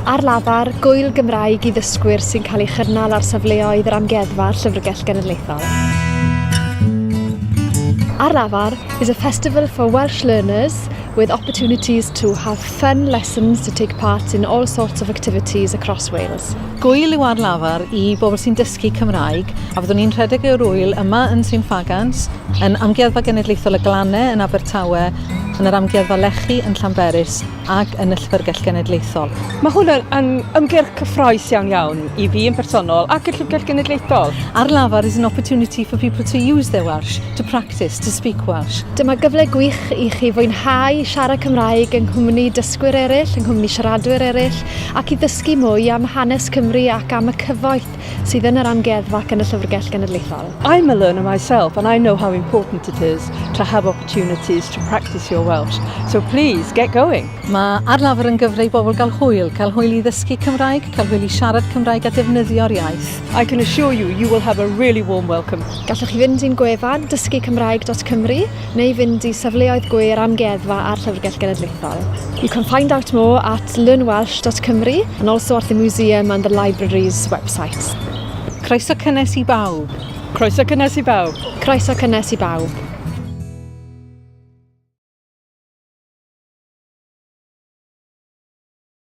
Ar lafar, gwyl Gymraeg i ddysgwyr sy'n cael ei chynnal ar safleoedd yr Amgueddfa a'r Llyfrgell Genedlaethol. Ar lafar is a festival for Welsh learners with opportunities to have fun lessons to take part in all sorts of activities across Wales. Gwyl yw ar lafar i bobl sy'n dysgu Cymraeg a fyddwn ni'n rhedeg yr wyl yma yn Sir Ffagans, yn Amgueddfa Genedlaethol y Glannau yn Abertawe, yn yr Amgueddfa Lechi yn Llanberis ac yn y Llyfrgell Genedlaethol. Mae hwn yn, yn ymgyrch cyffroes iawn iawn i fi yn personol ac y Llyfrgell Genedlaethol. Ar lafar is an opportunity for people to use their Welsh, to practice, to speak Welsh. Dyma gyfle gwych i chi fwynhau siarad Cymraeg yng nghwmni dysgwyr eraill, yng nghwmni siaradwyr eraill, ac i ddysgu mwy am hanes Cymru ac am y cyfoeth sydd yn yr Amgueddfa ac yn y Llyfrgell Genedlaethol. I'm a learner myself and I know how important it is to have opportunities to practice your Welsh, so please get going! Mae Ar Lafar yn gyfle i bobl gael hwyl, cael hwyl i ddysgu Cymraeg, cael hwyl i siarad Cymraeg a defnyddio'r iaith. I can assure you, you will have a really warm welcome. Gallwch chi fynd i'n gwefan dysgucymraeg.cymru neu fynd i safleoedd gwyr amgueddfa a'r Llyfrgell Genedlaethol. You can find out more at learnwelsh.cymru and also at the museum and the library's website. Croeso cynnes i bawb! Croeso cynnes i bawb! Croeso cynnes i bawb!